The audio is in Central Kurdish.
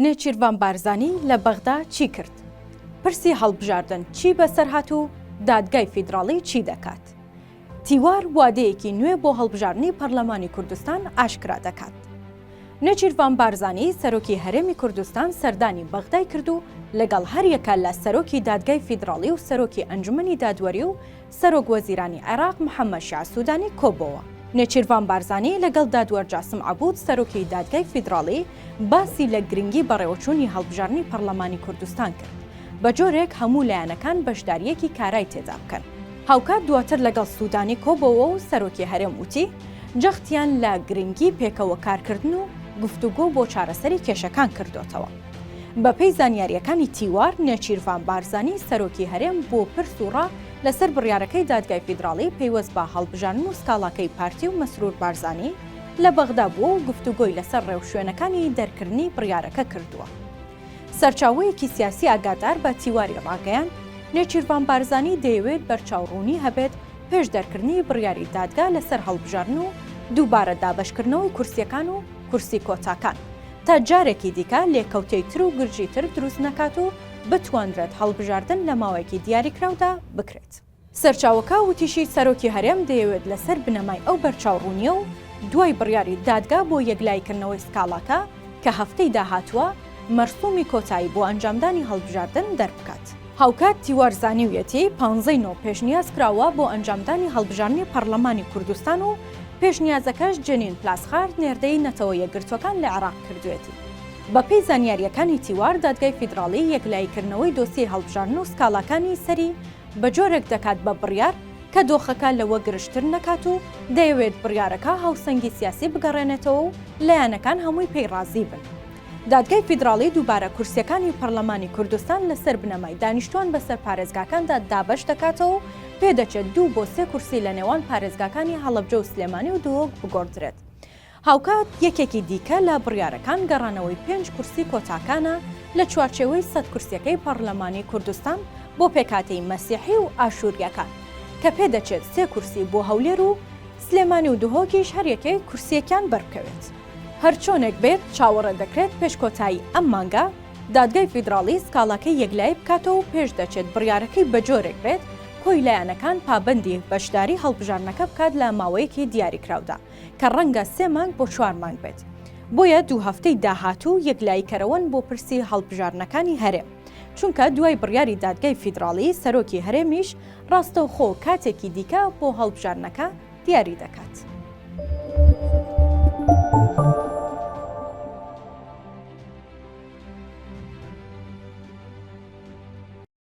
نێچیرڤان بارزانی لە بەغدا چی کرد؟ پرسی هەڵبژاردن چی بەسەرهات و دادگای فیدراڵی چی دەکات؟ تیوار وادەیەکی نوێ بۆ هەڵبژاردنی پەرلەمانی کوردستان ئاشکرا دەکات. نێچیرڤان بارزانی سەرۆکی هەرێمی کوردستان سەردانی بەغدای کرد و لەگەڵ هەریەکە لە سەرۆکی دادگای فیدراڵی و سەرۆکی ئەنجومەنی دادوەری و سەرۆک وەزیرانی عێراق محەممەد شیاع سوودانی کۆبۆوە. نێچیرڤان بارزانی لەگەڵ دادوەر جاسم عەبوود سەرۆکی دادگای فیدراڵی باسی لە گرنگی بەڕێوەچوونی هەڵبژاردنی پەڕڵەمانی کوردستان کرد بە جۆرێک هەموو لایەنەکان بەشدارییەکی کارای تێدا بکەن. هاوکات دواتر لەگەڵ سوودانی کۆبۆوە و سەرۆکی هەرێم وتی، جەختیان لە گرنگی پێکەوە کارکردن و گفتوگۆ بۆ چارەسەری کێشەکان کردۆتەوە. بەپێی زانیارییەکانی تیوار، نێچیرڤان بارزانی، سەرۆکی هەرێم بۆ پرس و ڕا لەسەر بڕیارەکەی دادگای فیدراڵی پەیوەست بە هەڵبژاردن و سکاڵاکەی پارتی و مەسرور بارزانی لە بەغدا بووە و گفتوگۆی لەسەر ڕێوشوێنەکانی دەرکردنی بڕیارەکە کردووە. سەرچاوەیەکی سیاسی ئاگادار بە تیواری ڕاگەیاند، نێچیرڤان بارزانی دەیەوێت بەرچاوڕوونی هەبێت پێش دەرکردنی بڕیاری دادگا لەسەر هەڵبژاردن و دووبارە دابەشکردنەوەی کورسییەکان و کورسی کۆتاکان، تا جارێکی دیکە لێکەوتەی تر و گرژی تر دروست نەکات و بتوانرێت هەڵبژاردن لە ماوەیەکی دیاریکراودا بکرێت. سەرچاوەکە وتیشی، سەرۆکی هەرێم دەیەوێت لەسەر بنەمای ئەو بەرچاوڕوونییە و دوای بڕیاری دادگا بۆ یەکلاییکردنەوەی سکاڵاکە کە هەفتەی داهاتووە مەرسوومی کۆتایی بۆ ئەنجامدانی هەڵبژاردن دەربکات. هاوکات تیوار زانیویەتی پانزە ی نۆ پێشنیاز کراوە بۆ ئەنجامدانی هەڵبژاردنی پەڕلەمانی کوردستان و پێشنیازەکەش جێنین پلاسخارت نێردەی نەتەوە یەکگرتووەکان لە عێراق کردویەتی. بەپێی زانیارییەکانی تیوار دادگای فیدراڵی یەکلاییکردنەوەی دۆسیەی هەڵبژاردن و سکاڵاکانی سەری بە جۆرێک دەکات بە بڕیار کە دۆخەکە لەوە گرژتر نەکات و دەیەوێت بڕیارەکە هاوسەنگی سیاسی بگەڕێنێتەوە و لایەنەکان هەمووی پێی ڕازی بن. دادگای فیدراڵی دووبارە کورسیەکانی پەرلەمانی کوردستان لەسەر بنەمای دانیشتوان بەسەر پارێزگاکاندا دابەش دەکاتەوە و پێدەچێت دوو بۆ سێ کورسی لە نێوان پارێزگاکانی هەڵەبجە و سلێمانی و دهۆک بگۆڕدرێت. هاوکات یەکێکی دیکە لە بڕیارەکان گەڕانەوەی پێنج کورسی کۆتاکانە لە چوارچێوەی سەد کورسیەکەی پەرلەمانی کوردستان بۆ پێکهاتەی مەسیحی و ئاشوریەکان کە پێدەچێت سێ کورسی بۆ هەولێر و سلێمانی و دهۆکیش هەریەکەی کورسیەکیان بەربکەوێت. هەرچۆنێک بێت چاوەڕێ دەکرێت پێش کۆتایی ئەم مانگە دادگای فیدراڵی سکاڵاکەی یەکلایی بکاتەوە و پێش دەچێت بڕیارەکەی بەجۆرێک بێت کۆی لایەنەکان پابەندی بەشداری هەڵبژاردنەکە بکات لە ماوەیەکی دیاریکراودا کە ڕەنگە سێ مانگ بۆ چوار مانگ بێت. بۆیە دوو هەفتەی داهاتوو یەکلاییکەرەوەن بۆ پرسی هەڵبژاردنەکانی هەرێم، چونکە دوای بڕیاری دادگای فیدراڵی سەرۆکی هەرێمیش ڕاستەوخۆ کاتێکی دیکە بۆ هەڵبژاردنەکە دیاری دەکات.